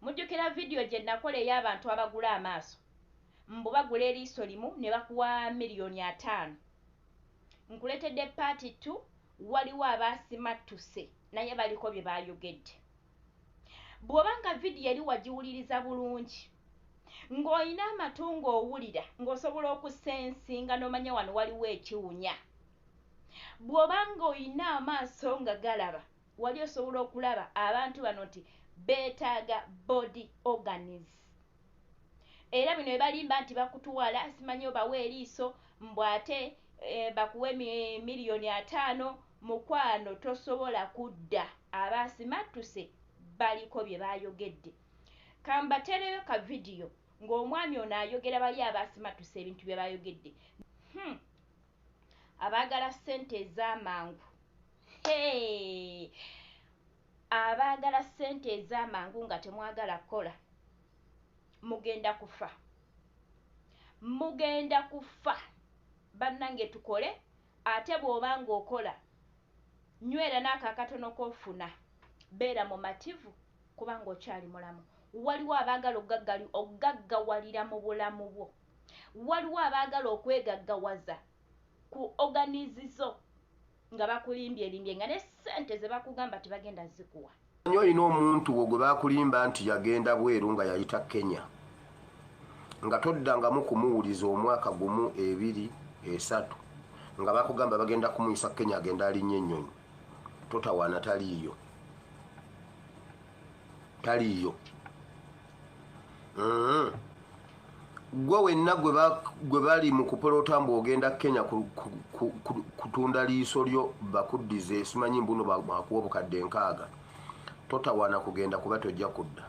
Mujjukira video gye nakola ey'abantu abagula amaaso? Mbu bagula eriiso limu ne bakuwa million ataano. Nkuletedde part two waliwo abaasimattuse naye baliko bye baayogedde. Bw'oba nga video eri wagiwuliriza bulungi, ng'olina amatu ng'owulira ng'osobola okusensinga n'omanya wano waliwo ekiwunya. Bw'oba ng'olina amaaso nga galaba Wali osobola okulaba abantu bano nti betaaga body organs era bino byebalimba nti bakutuwala simanyi obawa eriiso mbu ate bakuwe million ataano mukwano tosobola kudda aba asimattuse baliko byebayogedde kambatereyo ka video nga omwami ono ayogera bali aba asimattuse ebintu byebayogedde hum abagala sente ezamangu. abaagala ssente ez'amangu nga temwagala kukola mugenda kufa mugenda kufa bannange tukole ate bw'oba ng'okola nywera n'ako akatono k'ofuna beera mumativu kubanga okyali mulamu waliwo abaagala okugaggali okugaggawalira mu bulamu bwo waliwo abaagala okwegaggawaza ku oganizizo nga bakulimbyelimbye nga ne sente zebakugamba tibagenda zikuwa anyi olina omuntu wo gwe bakulimba nti yagenda bweru nga yayita kenya nga toddangamu kumuwuliza omwaka gumu ebiri esatu nga bakugamba bagenda kumuyisa kenya agenda alinnya ennyonyi totawaana taliiyo taliiyo mm-hmm. gwe wenna gwe bali mu kupolota mbu ogenda kenya kutunda liiso lyo bakuddize simanyi mbuno bakuwa obukadde nkaaga totawana kugenda kuba tojja kudda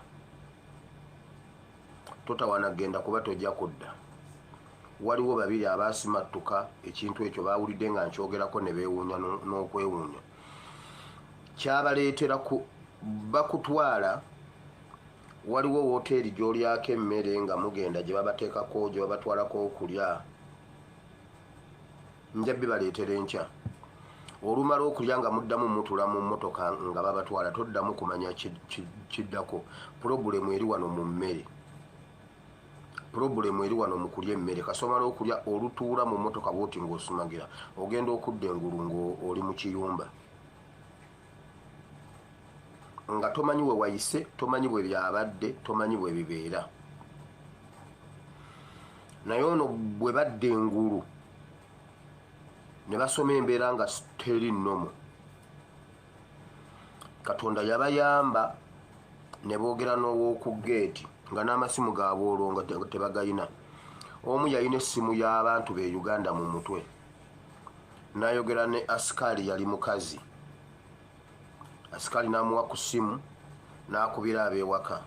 totawana kugenda kuba tojja kudda waliwo babiri abasimattuka ekintu ekyo bawulidde nga nkyogerako ne beewuunya n'okwewuunya kyabaleetera bakutwala waliwo woteeri gyolyako emmere nga mugenda gye babateekako gye babatwalako okulya nja bibaleetera enkya olumala okulya nga muddamu mutula mu mmotoka nga babatwala toddamu kumanya kiddako pulogulemu eri wano mu mmere pulogulemu eri wano mu kulya emmere kasomala okulya olutuula mu mmotoka bwoti ng'osumagira ogenda okudda engulu ng'oli mu kiyumba nga tomanyi we wayise tomanyi bwe byabadde tomanyi bwe bibeera naye ono bwe badde engulu ne basoma embeera nga teri nnomu katonda yabayamba ne boogera n'ow'oku geeti nga n'amasimu gaabwe olwo nga tebagayina omu yalina essimu y'abantu be uganda mu mutwe nayogera ne asikaali yali mukazi asikaali namuwa ku simu nakubira abewaka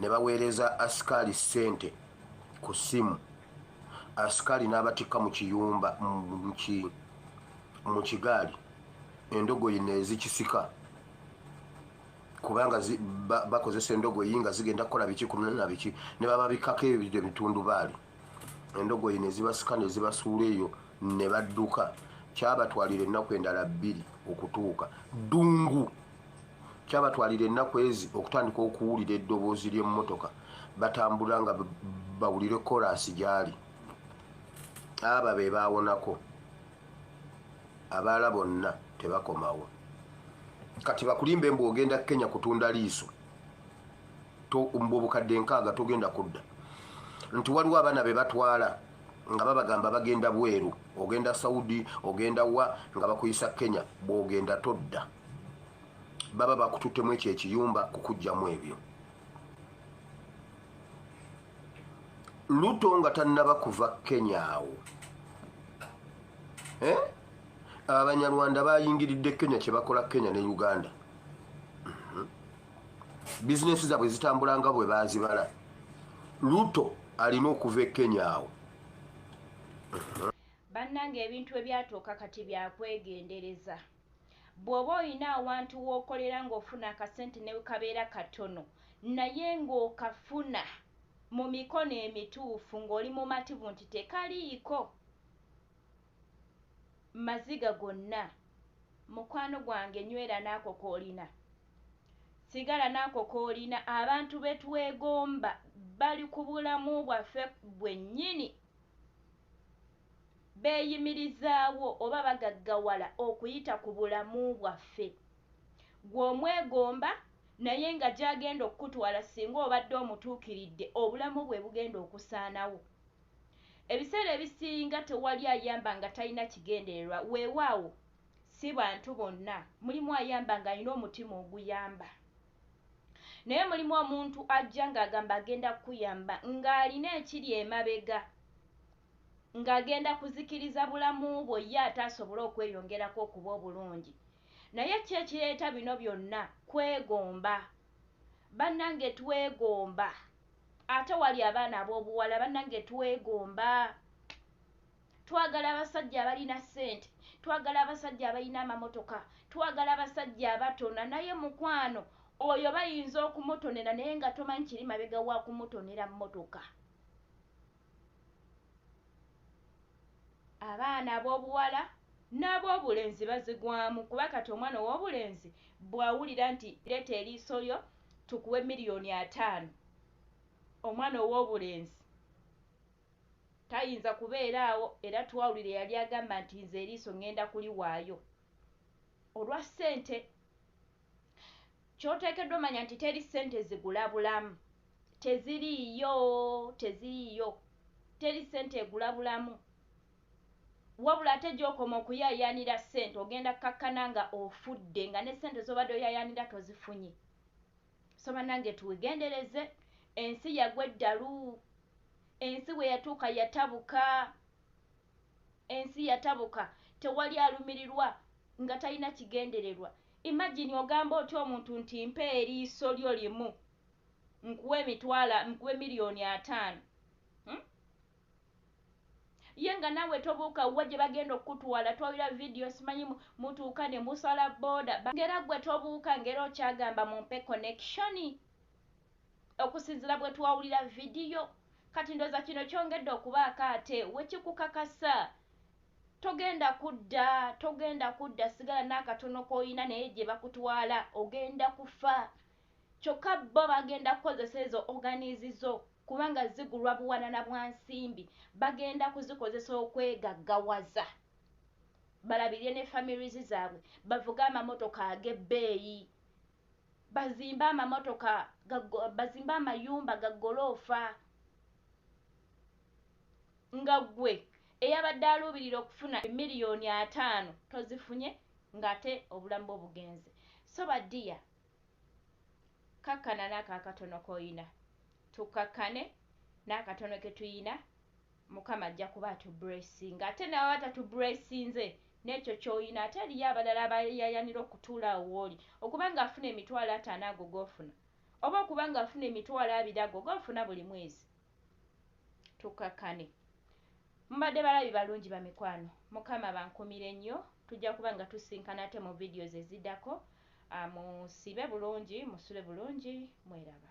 ne baweereza asikaali sente ku simu asikaali nabatikka mu kiyumba mu kigaali endogoyi nezikisika kubanga bakozesa endogoyi nga zigenda kukola biki ku nabiki ne bababikako ebitundubaali endogoyi nezibasika nezibasuula eyo ne badduka kyabatwalira ennaku endala bbiri okutuuka ddungu kyabatwalira ennaku ezi okutandika okuwulira eddoboozi ly'emmotoka batambula nga bawulire koraasi gyali aba be baawonako abaala bonna tebakomawo kati bakulimba embu ogenda kenya kutunda liiso obukadde nkaaga togenda kudda nti waliwo abaana be batwala nga babagamba bagenda bweru ogenda saudi ogenda wa nga bakuyisa kenya bwogenda todda baba bakututtemu ekyo ekiyumba kukugjamu ebyo luto nga tannaba kuva kenya awo eh? abanyarwanda bayingiridde kenya kyebakola kenya ne uganda bizinesi zaabwe zitambula nga bwe baazibala luto alina okuva e kenya awo bannanga ebintu ebyatuuka kati byakwegendereza bw'oba olina awantu w'okolera ng'ofuna akasente ne kabeera katono naye ng'okafuna mu mikono emituufu ng'oli mumativu nti tekaliiko maziga gonna mukwano gwange nywera naako koolina sigala naako koolina abantu betwegomba bali ku bulamu bwaffe bwennyini beyimirizaawo oba bagaggawala okuyita ku bulamu bwaffe gwe omwegomba naye nga gyagenda okukutwala singa obadde omutuukiridde obulamu bwe bugenda okusaanawo ebiseera ebisinga tewali ayamba nga talina kigendererwa weewaawo Si bantu bonna. Mulimu ayamba ng'alina omutima oguyamba. Naye mulimu omuntu ajja ng'agamba agenda kukuyamba ng'alina ekiri emabega ng'agenda kuzikiriza bulamu bwo ye ate asobole okweyongerako okuba obulungi. Naye ki ekireeta bino byonna? Kwegomba. Bannange twegomba. Ate wali abaana ab'obuwala bannange twegomba. twagala abasajja abalina sente twagala abasajja abalina amamotoka twagala abasajja abatona naye mukwano oyo bayinza okumutonera naye nga tomanyi kiri mabega wa kumutonera motoka abaana ab'obuwala n'ab'obulenzi bazigwamu kuba kati omwana ow'obulenzi bw'awulira nti leeta eriiso lyo tukuwe miliyoni ataano omwana ow'obulenzi Tayinza kubeera awo, era twawulira eyali agamba nti, Nze eriiso ŋŋenda kuliwaayo olwa ssente. Ky'oteekeddwa omanya nti teri ssente zigula bulamu. Teziriiyo. Teziriiyo. Teri ssente egula bulamu. Wabula ate gy'okoma okuyaayaanira ssente, ogenda kkakkana nga ofudde, nga ne ssente z'obadde oyaayaanira tozifunye. So banange tuwegendereze ensi yagwa eddalu ensi weyatuuka yatabuka ensi yatabuka tewali alumirirwa nga talina kigendererwa imagine ogamba otya omuntu nti mpa eriiso lyo limu nkuwe emitwala nkuwe million ataano hmm? Ye nga nawe tobuuka wa gyebagenda okukutwala twawira video simanyi mutuuka nemusala boda ngera gwe tobuuka ngera okyagamba mumpe connection okusinzira bwetwawulira video kati ndoza kino kyongedde okubaako ate wekikukakasa togenda kudda togenda kudda sigala naakatono koyina naye gyebakutwala ogenda kufa Kyokka bbo bagenda kukozesa ezo oganizi zo kubanga zigulwa buwanana bwa nsimbi, bagenda kuzikozesa okwegaggawaza balabirire ne families zaabwe, bavuge amamotoka ag'ebbeeyi, bazimbe amamotoka, bazimbe amayumba ga ggoloofa nga ggwe eyabadde aluubirira okufuna emiliyoni ataano tozifunye ng'ate obulamu bwo bugenze. So ba dear Kkakkana n'ako akatono k'olina. Tukkakkane n'akatono ke tulina, Mukama ajja kuba atubbuleesinga. Ate ne bw'aba tatubbuleesinze n'ekyo ky'olina, ate eriyo abalala abayaayaanira okutuula awo w'oli. Okuba ng'afuna emitwalo ataano ago g'ofuna, oba okuba ng'afuna emitwalo abiri ago g'ofuna buli mwezi, tukkakkane. Mubadde balabi balungi bamikwano, Mukama abankumire nnyo, tujja kuba nga tusisinkana ate mu videos eziddako, musiibe bulungi, musule bulungi, mweraba.